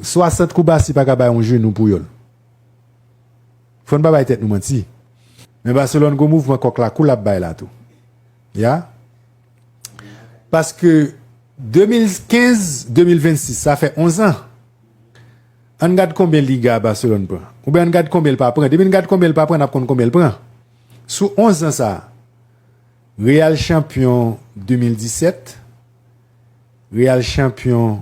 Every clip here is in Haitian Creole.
60 kou Barsi paka bay yon jenou Puyol. Fò n pa bay tèt nou manti. Men Barcelone gon mouvman kòk la kou l ap bay la tou. Ya. Paske 2015, 2026 sa fè 11 an. An n gad konbyen Liga Barcelone pran. Oubyen an n gad konbyen l pa pran. Depi n gad konbyen l pa pran n ap konn konbyen l pran. Sou 11 an sa. Real chanpyon 2017. Real chanpyon.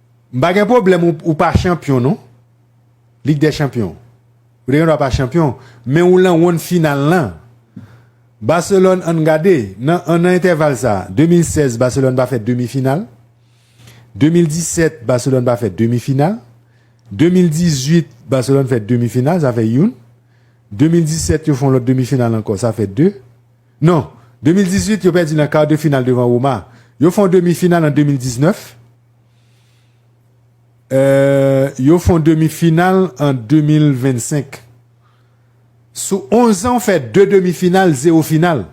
M pa gen pwoblèm ou pa chanpyon non Lig dè chanpyon ou te gen dwa pa chanpyon men ou lan wonn final lan Barcelone ann gade nan nan entèval sa 2016 Barcelone pa fè demi final 2017 Barcelone pa fè demi final 2018 Barcelone fè demi final sa fè youn 2017 yo fon lòt demi final ankò sa fè 2 non 2018 yo pèdi nan kar de final devan Roma yo fon demi final an 2019. Yo fon demi final an 2025. Sou 11 an ou fè 2 demi final 0 final.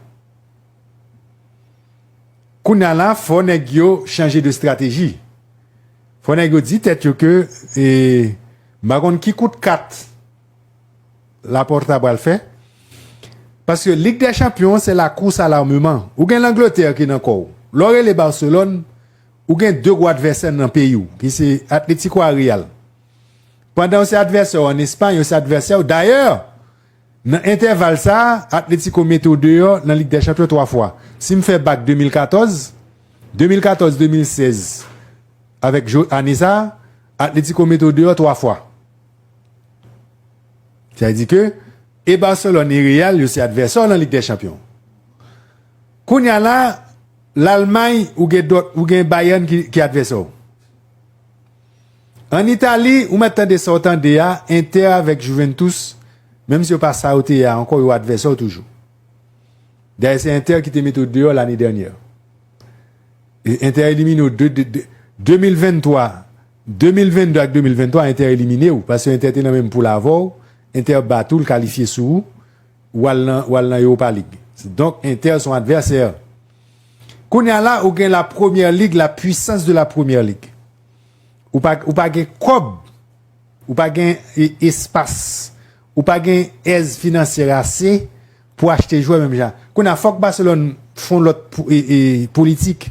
Kounya la fò nèg yo chanje de strateji. Fò nèg yo di tèt yo ke e m pa konn ki kout kat Laporta pral fè. Paske Lig dè chanpyon se la kous a l'armement. Ou gen Langletè ki nan kò ou. Lè w rele Barcelone. Ou gen 2 gwo advèsè nan peyi w ki se Atletico a Real. Pandan yo se advèsè w an Espay, yo se advèsè w. Dayè, nan entèval sa a, Atletico mete w deyò nan Lig dè Chanpyon 3 fwa. Si m fè bak 2014, 2014, 2016 avèk jou ane sa a, Atletico mete w deyò 3 fwa. Sa vle di ke e Barcelone e Real yo se advèsè w nan Lig dè Chanpyon. Kounya la l'Allemagne ou gen dòt ou gen Bayern ki advèsè w. An Itali ou mèt tande sa w tande a Inter avèk Juventus menm si yo pa sa yo te ye a ankò yo advèsè w toujou. Dayè se Inter ki te mete w deyò lane dènyè. Inter elimine w 2023, 2022 ak 2023 Inter elimine w paske Inter te nan menm poul avè w, Inter bat ou l kalifye sou ou. Ou al nan ou al nan Europa League. Donk Inter son advèsè. Kounye a la ou gen la Première Ligue, la puissance de la Première Ligue. Ou pa ou pa gen kòb, ou pa gen espas, ou pa gen èz finansyè ase pou achte jwè menm jan. Kounye a fòk Barcelone fon lòt politik.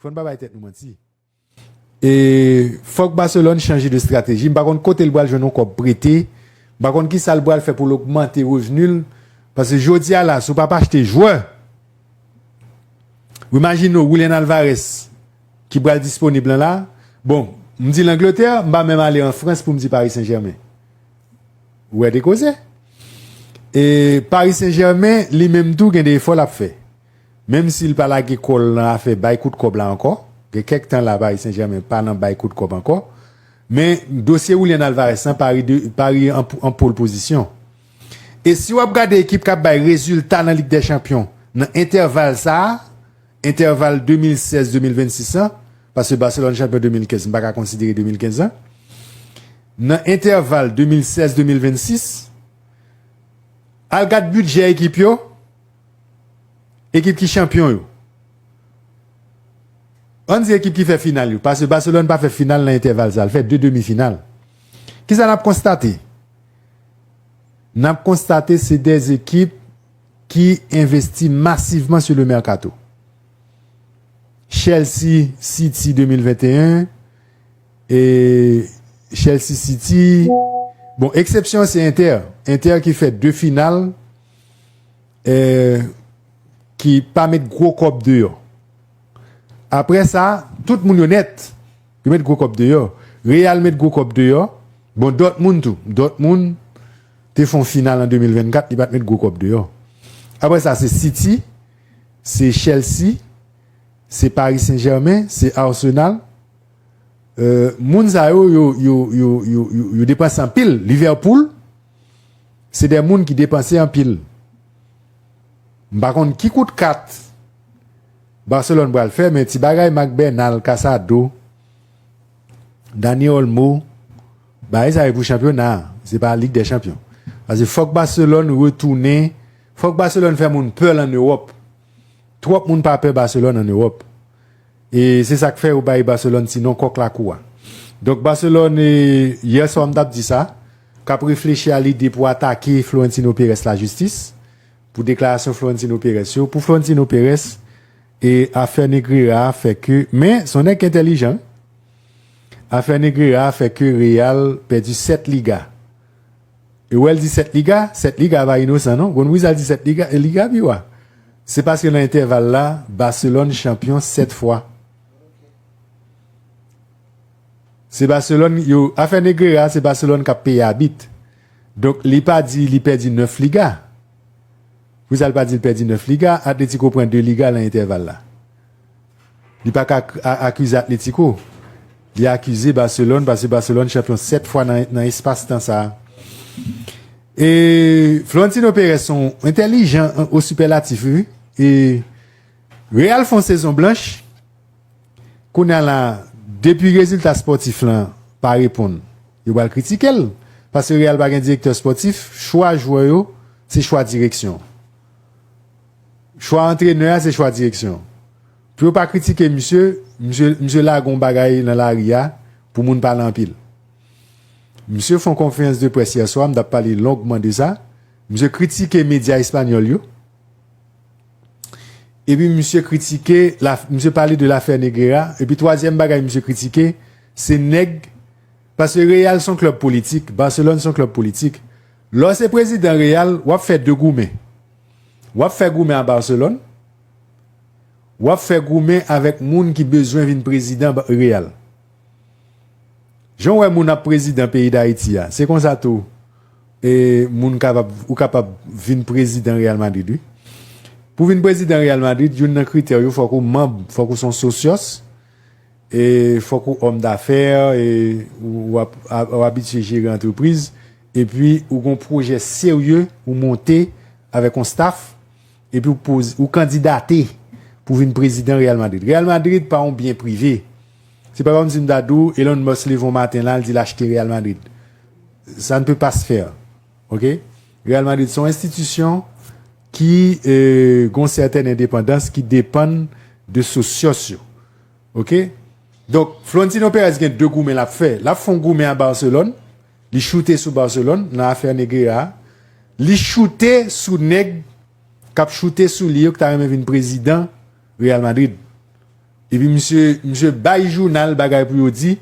Fò n pa bay tèt nou manti. E fòk Barcelone chanje de strateji. M pa konn kote l pral jwenn yon kòb prete. M pa konn kisa l pral fè pou l ogmante revni l. Paske jodi a la, si w pa pa achte jwè, w imajine w Julian Alvarez ki pral disponib lan la. Bon, m di l Angletè, m pa menm ale an Frans pou m di Paris Saint-Germain. Ou wè de koze. E Paris Saint-Germain, li menm tou gen de efò l ap fè. Menm si l pa lage kò l nan afè bay kout kòb la ankò, gen kèk tan la Paris Saint-Germain pa nan bay kout kòb ankò, men dosye Julian Alvarez lan pa ri an pole pozisyon. E si w ap gade ekip k ap bay rezilta nan Lig dè Chanpyon nan entèval sa a, entèval 2016-2026 lan, paske Barcelone chanpyon 2015 m pa ka konsidere 2015 lan, nan entèval 2016-2026, al gad bidjè ekip yo, Ekip ki chanpyon yo. Ann di ekip ki fè final yo, paske Barcelone pa fè final nan entèval sa, li fè 2 demi final. Kisa nap konstate? Nap konstate se 2 ekip ki envesti masivman sou le mercato. Chelsea City 2021 e Chelsea City, bon eksepsyon se Inter, Inter ki fè 2 final. ki pa met gwo kòb deyò. Aprè sa, tout moun yo nèt, yo met gwo kòb deyò. Real met gwo kòb deyò. Bon, Dortmund tou. Dortmund te fè yon final an 2024, li pa t met gwo kòb deyò. Aprè sa, se City, se Chelsea, se Paris Saint-Germain, se Arsenal. Moun sa yo, yo depanse anpil. Liverpool. Se de moun ki depanse anpil. M pa konn ki kout kat Barcelone pral fè men ti bagay Marc Bernal, Casado, Dani Olmo, bagay sa yo pou chanpyona a, se pa Ligue des Champions. Pase fòk Barcelone retounen, fòk Barcelone fè moun pè l an Ewòp. Twòp moun pa pè Barcelone an Ewòp. E se sak fè yo bay Barcelone ti non kòk lakou a. Donk Barcelone yè swa m tap di sa, kap reflechi a lide pou atake Florentino Perez lajistis pou deklarasyon Florentino Perez yo. Pou Florentino Perez e afè Negreira a fè ke men son nèg entèlijan afè Negreira a fè ke Real pèdi 7 Liga. E wè l di sèt liga, sèt liga pa inosan non. Konn pou ki sa l di sèt liga, liga pi wa. Se paske nan entèval la, Barcelone chanpyon sèt fwa. Se Barcelone yo, afè Negreira se Barcelone k ap peye abit. Donk li pa di li pèdi nèf liga. Pou ki sa l pa di l pèdi nèf liga, Atlético pran de liga nan entèval la. Li pa ka akize Atlético. Li akize Barcelone pase Barcelone chanpyon 7 fwa nan espas tan sa. E Florentino Perez son entèlijan o sipèlatif wi. E Real fon sezon blanch. Kounya la depi rezilta spòtif lan pa reponn yo pral kritikel. Pase Real pa gen direktè spòtif, chwa jwè yo se chwa direksyon. Chwa antrenè a se chwa direksyon. Pou yo pa kritike misye, misye misye lage yon bagay nan lari a pou moun pale anpil. Misye fè yon konferans de près yè swa, m t ap pale longman de sa, misye kritike medya espanyòl yo, epi misye kritike la, misye pale de lafè Negreira, epi twazyèm bagay misye kritike se nèg, paske Real s on klèb politik, Barcelone s on klèb politik, lè w se prezidan Real, w ap fè de goumen. W ap fè goumen a Barcelone? W ap fè goumen avèk moun ki bezwen vin prezidan Real? Jan w wè moun ap prezidan peyi Dayiti a, se konsa tou moun kapab, ou kapab vin prezidan Real Madrid wi. Pou w vin prezidan Real Madrid, youn nan kritè w yo fòk ou manb, fòk ou se yon sosyòs, fòk ou òm dafè, ou abitye jere antrepriz. epi ou gen yon pwojè serye ou monte avèk yon staff epi ou poze ou kandidate pou vin prezidan Real Madrid. Real Madrid pa yon byen prive. Se pa kòmsi m ta di w Elon Musk leve yon maten la l di l achte Real Madrid. Sa ne peut pas se faire. Ok? Real Madrid se yon enstitisyon ki gen yon sètèn endepandans ki depann de sosyos yo. Ok? Donk Florentino Perez gen 2 goumen l ap fè. L ap fè yon goumen a Barcelone. Li choute sou Barcelone nan afè Negreira a. Li choute sou nèg k ap choute sou li yo ki ta renmen vin prezidan Real Madrid. Epi misye misye bay jounal bagay pou yo di.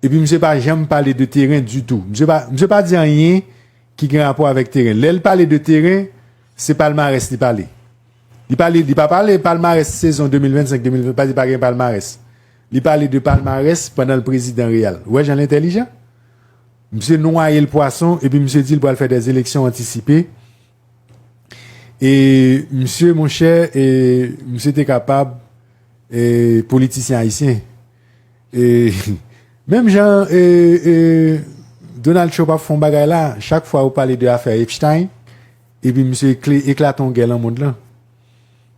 Epi misye pa janm pale de teren ditou. Misye pa misye pa di anyen ki gen rapò avèk teren. Lè l pale de teren, se palmarès li pale. Li pale li pa pale palmarès sezon 2025, 2020 pa di pa gen palmarès. Li pale de palmarès pandan l prezidan Real. Ou wè jan l entèlijan? Misye nwaye l pwason epi misye di l pral fè des élections antisipées e misye monchè e misye te kapab e politisyen ayisyen e menm jan e e Donald Trump ap fè yon bagay la chak fwa ou pale de afè Epstein epi misye eklate yon gè lan mond lan.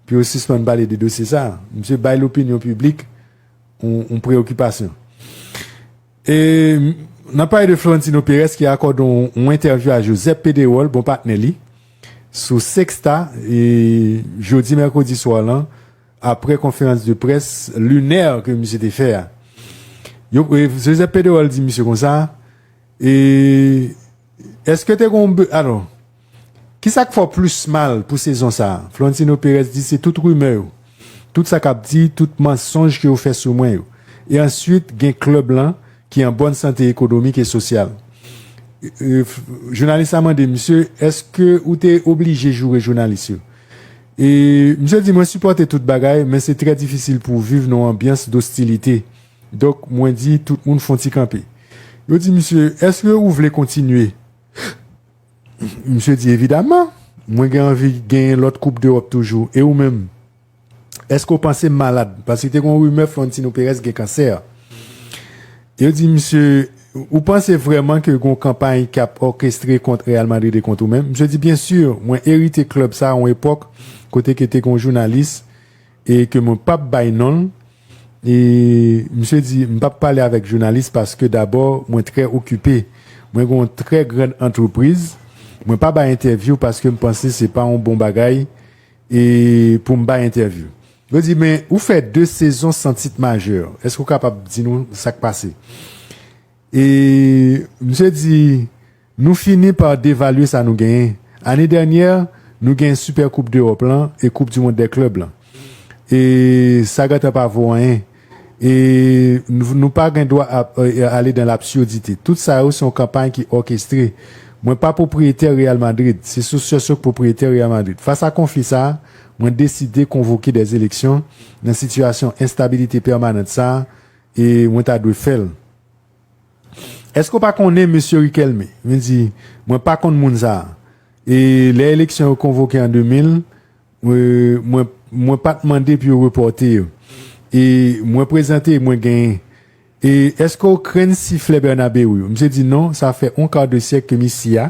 pou yo sispann pale de dosye sa a. Misye bay lopinyon piblik yon preyokipasyon. E nan pale de Florentino Perez ki akòde yon entèvyou a Josep Pedrerol, bon patnè li, sou Sexta jodi mèkredi swa lan apre konferans de près linè ke misye te fè a. Josep Pedrerol di misye konsa, Eske te gen yon, alò, Ki sa k fè w plis mal pou sezon sa a? Florentino Pérez di se tout rimè yo, tout sa k ap di, tout mansonj ke yo fè sou mwen yo. E answit gen klèb lan ki an bòn sante ekonomik e sosyal. Jounalis la mande misye, èske ou te oblije joure jounalis yo? E misye di mwen sipòte tout bagay men se trè difisil pou w viv nan yon anbyans dostilite. Donk mwen di tout moun fon ti kanpe. Yo di misye, èske ou vle kontinye? Misye di, Evidaman! Mwen gen anvi genyen lòt koup dEròp toujou. E ou menm? Èske ou panse m malad? Paske te gen yon rimè Florentino Perez gen kansè. Yo di misye, Ou panse vrèman ke gen yon kanpay k ap òkestre kont Real Madrid e kont ou menm? Misye di, Byensi, mwen erite klèb sa a yon epòk kote ke te gen yon jounalis e ke mwen pap bay non l e misye di m pap pale avèk jounalis paske dabò mwen trè okipe mwen gen yon trè grand antrepriz mwen pa bay entèvyou paske m panse se pa yon bon bagay e pou m bay entèvyou yo di men ou fè 2 sezon san tit majè èske ou kapab di nou sak pase. E misye di, Nou fini pa devalye sa nou genyen. Ane dènyè, nou genyen Sipè Koup Dewòp lan e Koup Dimond dè Klèb lan. E sa gentan pa vo anyen. E nou pa gen dwa ap ale dan lapsurdite. Tout sa yo se yon kanpay ki òkestre. Mwen pa pwopriyetè Real Madrid. Se Socios yo ki pwopriyetè Real Madrid. Fas a konfli sa a, mwen deside konvoke dè eleksyon nan sitiyasyon enstabilite pèmanant sa a, E mwen ta dwe fè l. Èske w pa konnen mesye Riquelme? Li di, Mwen pa konn moun sa a. E lè eleksyon yo konvoke an 2000, mwen, mwen pa t mande pou yo repòte yo. E mwen prezante e mwen genyen. E èske w krenn siflè Bernabeu yo? Misye di, Non, sa fè on kar de syèk ke misi a,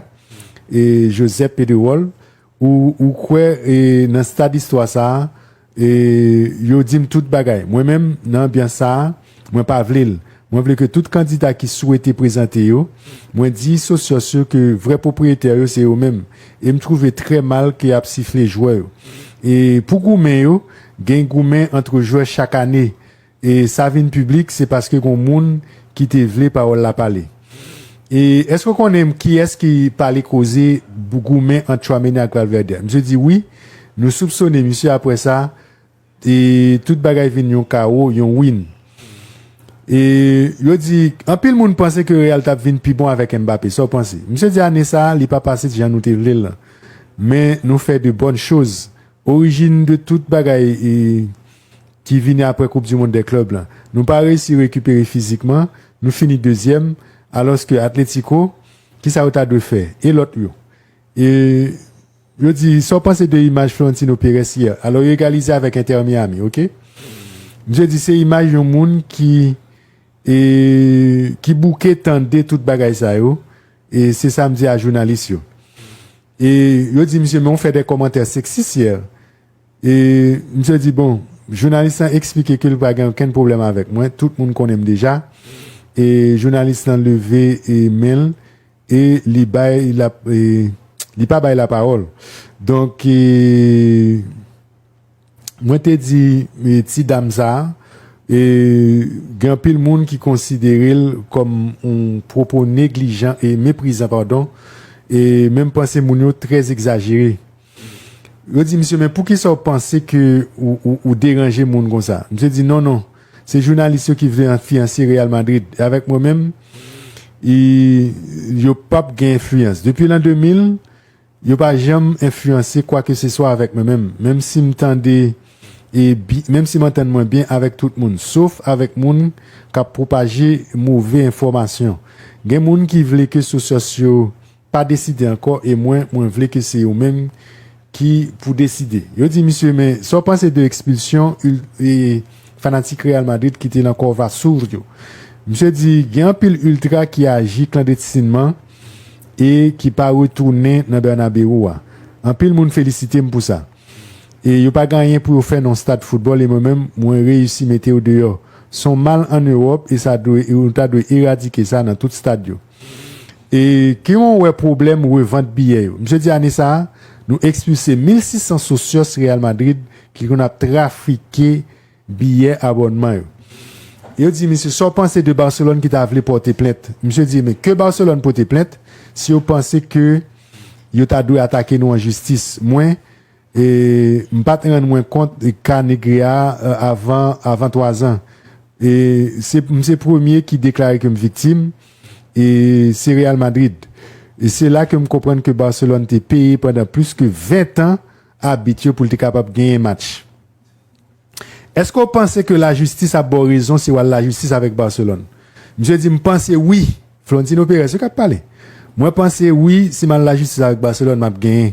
e Josep Pedrerol, Ou kwè nan stad istwa sa a? Yo di m tout bagay. Mwen menm, nan anbyans sa a, mwen pa vle l. Mwen vle ke tout kandida ki swete prezante yo, mwen di sosyòs yo ke vrè pwopriyetè yo se yo menm. E m twouve trè mal ke y ap sifle jwè yo. E pou goumen yo, gen goumen antre jwè chak ane. E sa vin piblik se paske gon moun ki te vle pawòl la pale. E èske ou konnen kiyès ki pale koze goumen ant Tchouameni ak Valverde? Misye di wi, nou soupsone misye apre sa e tout bagay vin yon kawo, yon win. E yo di, anpil moun panse ke Real tap vin pi bon avèk Mbappé, sa ou panse? Misye di ane sa li pa pase jan nou te vle l lan. Men nou fè de bòn choz. Orijin de tout bagay e. ki vini aprè koup du mond dè klub lan. Nou pa reysi rekipere fizikman, nou fini dezyèm, alòske Atletico, kisa yo ta dwe fè? E lòt yo? E yo di, sa w panse de imaj Florentino Perez yè? Alò yo egalize avèk Inter Miami, ok? Misye di se imaj yon moun ki e ki bouke tande tout bagay sa yo, e se sa m di a jounalis yo. E yo di misye men w fè dè kòmantè seksis yè. E misye di, bon, jounalis lan eksplike ke li pa gen okenn pwoblèm avèk mwen, tout moun konnen m deja. E jounalis lan leve men l e li bay la, li pa bay lapawòl. Donk, mwen te di ti dam sa a, gen anpil moun ki konsidere l kòm yon pwopo neglijan, e meprizan, padon, e menm panse moun yo trè egzajere. Yo di misye men poukisa ou panse ke ou deranje moun konsa? Misye di non non se jounalis yo ki vle enfliyanse Real Madrid e avèk mwen menm yo pap gen enfliyans. Depi lan 2000 yo pa janm enfliyanse kwa ke se swa avèk mwen menm, menm si m tande e menm si m antann mwen byen avèk tout moun sof avèk moun kap pwopaje move enfòmasyon. Gen moun ki vle ke sosyos yo pa deside ankò e mwen mwen vle ke se yo menm ki pou deside. Yo di misye men sa w panse de ekspilsyon ultra e fanatik Real Madrid ki te nan Corva Sur yo? Misye di gen anpil ultra ki aji klandetsinman e ki pa retounen nan Bernabeu a. Anpil moun felisite m pou sa. E yo pa gen anyen pou yo fè nan yon stad foutbòl e mwen menm mwen reyisi mete yo deyò. S on mal an Ewòp e sa dwe e nou ta dwe eradike sa nan tout stad yo. E ke yon wè pwoblèm revant biyè yo. Misye di ane sa a, nou ekspilse 1600 sosyòs Real Madrid ki konn ap trafike biyè abònman yo. Yo di misye, sa w panse de Barcelone ki ta vle pòte plent? Misye di, men, ke Barcelone pote plent, si yo panse ke yo ta dwe atake nou an jistis. Mwen. E m pat rann mwen kont ka Negre a avan avan 3 zan. E se m se premye ki deklare ke m viktim e se Real Madrid. E se la ke m konprann ke Barcelone te peye pandan plis ke 20 tan abit yo pou l te kapab genyen match. Eske w panse ke la jistis ap ba w rezon si w al la jistis avèk Barcelone? Misye di, M panse wi. Florentino Perez wi k ap pale. Mwen panse wi si m al la jistis avèk Barcelone m ap genyen.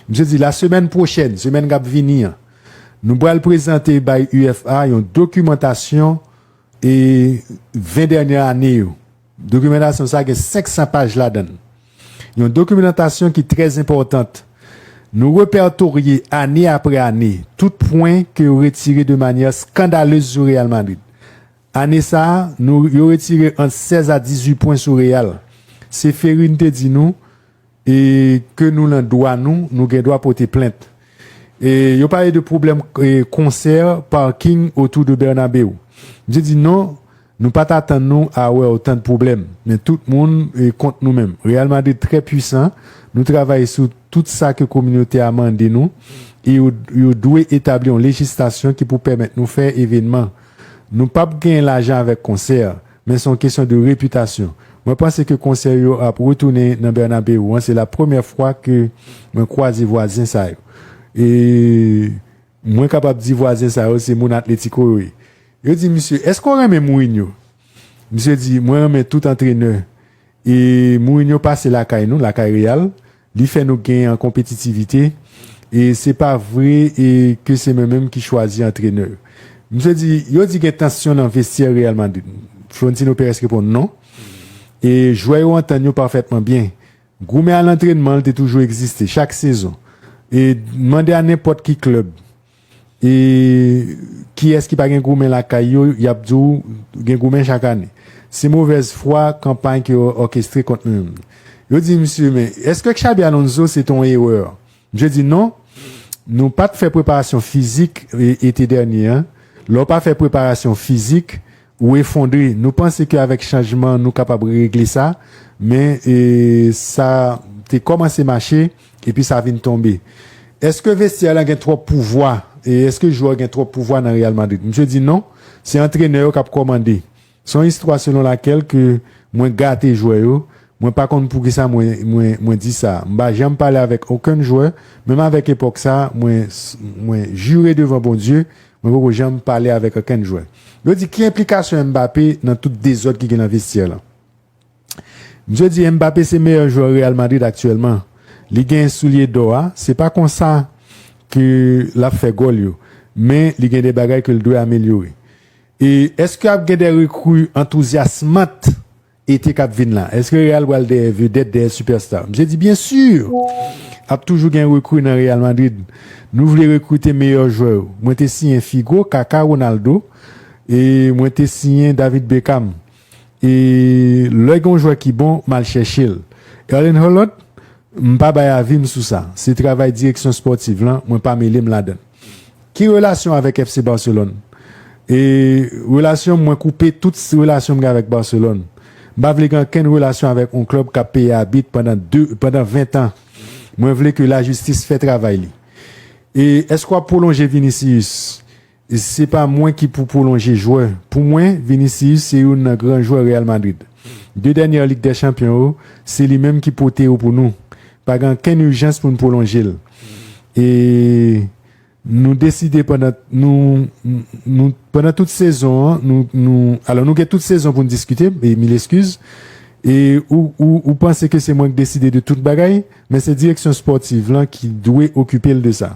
Misye di, la semèn pwochèn, semèn k ap vini an, nou pral prezante bay UEFA yon dokimantasyon 20 dènyè ane yo. Dokimantasyon sa gen 500 paj ladan. Yon dokimantasyon ki trè enpòtant. Nou repètorye ane apre ane tout pwen ke yo retire de manyè skandalez sou Real Madrid. Ane sa, nou yo retire ant 16 a 18 pwen sou Real. Se Ferry nou te di nou, E ke nou lan dwa nou, nou gen dwa pote plent. E yo pale de pwoblèm konsè, parking autour de Bernabeu. Misye di non, nou pat atann nou a wè otan de pwoblèm. Men tout moun kont nou menm. Real Madrid trè pwisan, nou travay sou tout sa ke kominote a mande nou e yo dwe etabli yon lejistasyon ki pou pèmèt nou fè evenman. Nou pap gen lajan avèk konsè. Men son kesyon de repitasyon. Mwen panse ke konsè yo ap retounen nan Bernabeu an se la premyè fwa ke mwen kwaze vwazen sa yo. E mwen kapab di vwazen sa yo se moun Atletico yo ye. Yo di misye, eske w renmen Mourinho? Misye di, mwen renmen tout antrenè. E Mourinho pase lakay nou, lakay Real, Li fè nou gen an konpetitivite e se pa vre e ke se mwen menm ki chwazi antrenè yo. Misye di, yo di gen tansyon nan vestyè Real Madrid. Florentino Perez reponn non. E jwè yo antann yo pafètman byen. Goumen a lantrenman te toujou egziste, chak sezon. E mande a nenpòt ki klèb. E kiyès ki pa gen goumen lakay yo, y ap di w gen goumen chak ane. Se movèz fwa kanpay ke yo òkestre kont mwen menm. Yo di misye, men, èske Xabi Alonso se te yon erè? Misye di, non, nou pa t fè preparasyon fizik ete dènye an. Lè w pa fè preparasyon fizik, Ou efondre. Nou panse ke avèk chanjman nou kapab regle sa, men sa te kòmanse mache epi sa vin tonbe. Eske vestyè la gen twòp pouvwa? Eske jwè yo gen twòp pouvwa nan Real Madrid? Misye di non, se antrenè yo kap kòmande. Se yon istwa selon lakèl ke mwen gate jwè yo, mwen pa konn poukisa mwen di sa. M pa janm pale avèk okenn jwè, menm avèk epòk sa, mwen jire devan Bondye Mwen poko janm pale avèk okenn jwè. Yo di ki enplikasyon Mbappé nan tout dezòd ki gen nan vestyè lan. Msye di Mbappé se meyè jwè Real Madrid aktyèlman. Li gen soulye dò a, se pa konsa ke lap fè gòl yo, men li gen de bagay ke l dwe amelyore. E èske ap gen de rekri antouzyasmant? Ete kap vin lan, eske Real pral dèyè vedèt, dèyè sipèsta? Misye di byen sur! Ap toujou gen rekru nan Real Madrid. Nou vle rekrite meyè jwè yo. Mwen te siyen Figo, Kaka, Ronaldo e mwen te siyen David Beckham. E lè gen yon jwè ki bon, m al chèche l. Erling Haaland, m pa bay avi m sou sa. Se travay direksyon spòtiv lan, mwen pa mele m ladan. Ki relasyon avèk FC Barcelone? E relasyon m mwen koupe tout relasyon m gen avèk Barcelone. M pa vle gen ankenn relasyon avèk on klub kap peye abit pandan 2 pandan 20 tan. Mwen vle ke la jistis fè travay li. E èske wap pwolonje Vinicius? Se pa mwen ki pou pwolonje jwè. Pou mwen, Vinicius se youn nan gran jwè Real Madrid. 2 dènyè Lig dè Chanpyon yo, se li menm ki pote yo pou nou. Pa gen ankenn ijans pou n pwolonje l. E nou deside pandan nou nou pandan tout sezon an nou nou alò nou gen tout sezon pou n diskite m e mil eskiz e ou ou ou panse ke se mwen k deside de tout bagay men se direksyon spòtiv lan ki dwe okipe l de sa.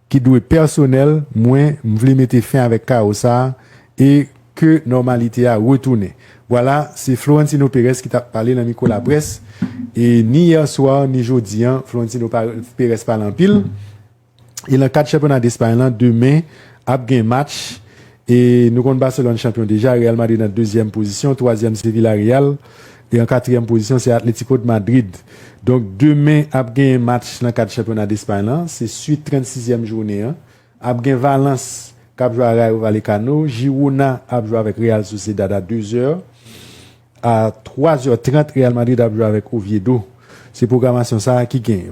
ki dwe pèsonèl mwen m vle mete fen avèk kawo sa e ke nòmalite a retounen vwala se Florentino Perez ki tap pale nan mikwo laprès e ni yè swa ni jodi an Florentino Perez pale anpil e lan kad chanpyona Despay lan demen ap gen match E nou konn Barcelone chanpyon deja, Real Madrid an dezyèm pozisyon, twazyèm se Villarreal, e an katriyèm pozisyon se Atlético de Madrid. Donk demen ap genyen match nan kad chanpyona Despay lan, se swit 36 zièm jounen an, ap gen Valence k ap jwe a Rayo Vallecano, Girona ap jwe avèk Real Sociedad a 2 zè, a 3 zè 30 Real Madrid ap jwe avèk Oviedo. Se pwogramasyon sa a ki genyen.